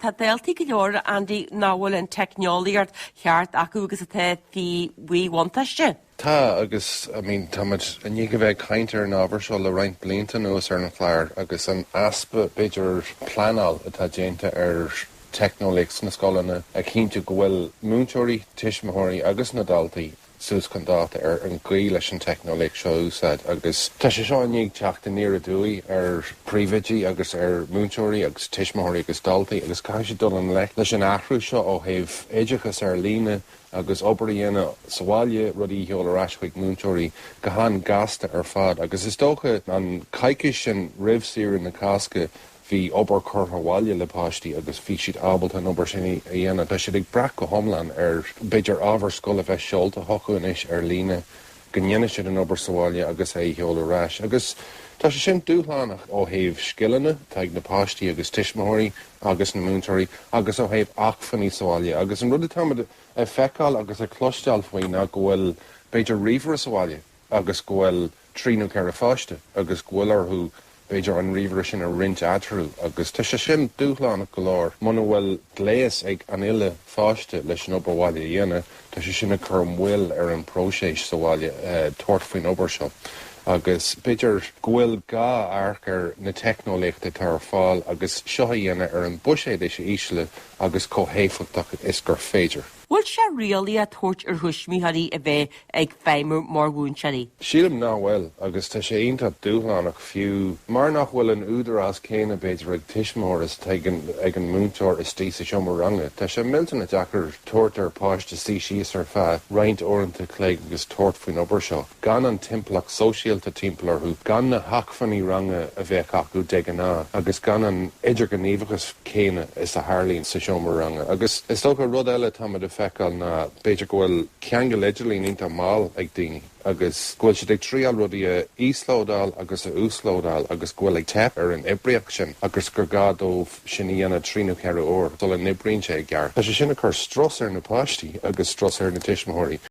Tá daltaí go leor Andy nach bhfuil an teicneolaíocht cheart acu agus atá faoi mhíbhuntáiste. Tá agus I mean tá muid i ndiaidh a bheith ag caint ar an ábhar seo le roinnt blianta anuas ar an chlár agus an easpa b'fhéidir pleanáil atá déanta ar teicneolaíocht sna scoileanna ag cinntiú go bhfuil múinteoirí, tuismitheoirí agus na daltaí. suas chun dáta ar an gcaoi leis an teicneolaíocht seo a úsáid agus tá sé seo i ndiaidh teacht aniar aduaidh ar phríomhoidí agus ar mhúinteoirí agus tuismitheoirí agus daltaí agus caithfidh siad dul i ngleic leis an athrú seo ó thaobh oideachas ar líne agus obair a dhéanamh sa bhaile, rudaí a sheoladh ar ais chuig múinteoirí go han-ghasta ar fad agus is dócha an coicís sin roimh saoire na Cásca bhí obair curtha abhaile le páistí agus bhí siad ábalta an obair sin a dhéanamh. Tá siad ag brath go hiomlán ar, b'fhéidir, ábhar scoile a bheith seolta chucu anois ar líne, go ndéanfaidh siad an obair sa bhaile agus é a sheoladh ar ais. Agus tá sé sin dúshlánach ó thaobh scileanna atá ag na páistí agus tuismitheoirí agus na múinteoirí agus ó thaobh acmhainní sa bhaile. Agus an rud atá muid ag feiceáil agus ag cloisteáil faoi ná go bhfuil, b'fhéidir, ríomhaire sa bhaile agus go bhfuil, trí nó ceithre pháiste agus go bhfuil orthu, b'fhéidir, an ríomhaire sin a roinnt eatarthu, agus tá sé sin dúshlánach go leor. Muna bhfuil gléas ag an uile pháiste leis an obair bhaile a dhéanamh, tá sé sin ag cur moill ar an bpróiseas sa bhaile tabhairt faoin obair seo. Agus b'fhéidir go bhfuil gá amharc ar na teicneolaíochtaí atá ar fáil agus seo a dhéanamh ar an buiséad is ísle agus chomh héifeachtach is gur féidir. Bhfuil sé réalaíoch a thabhairt ar thuismitheoirí a bheith ag feidhmiú mar mhúinteoirí? Sílim nach bhfuil, agus tá sé iontach dúshlánach, fiú mar nach bhfuil an údarás céanna b'fhéidir ag tuismitheoir is atá ag an múinteoir istigh sa seomra ranga. Tá sé millteanach deacair tabhairt ar pháiste suí síos ar feadh roinnt uaireanta cloig agus tabhairt faoin obair seo. gan an timpeallacht sóisialta timpeall orthu, gan na hacmhainní ranga a bheadh acu de ghnáth agus gan an idirghníomhachas céanna is a tharlaíonn sa seomra ranga. Agus is dócha, rud eile atá muid ag feiceáil ná b'fhéidir go bhfuil ceangal idirlín iontach mall ag daoine agus go bhfuil siad ag triáil rudaí a íoslódáil agus a uaslódáil agus go bhfuil ag teip ar an oibríocht sin agus gur gá dóibh sin a dhéanamh trí nó ceithre uair sula n-oibríonn sé i gceart. Tá sé sin ag cur strus ar na páistí agus strus ar na tuismitheoirí.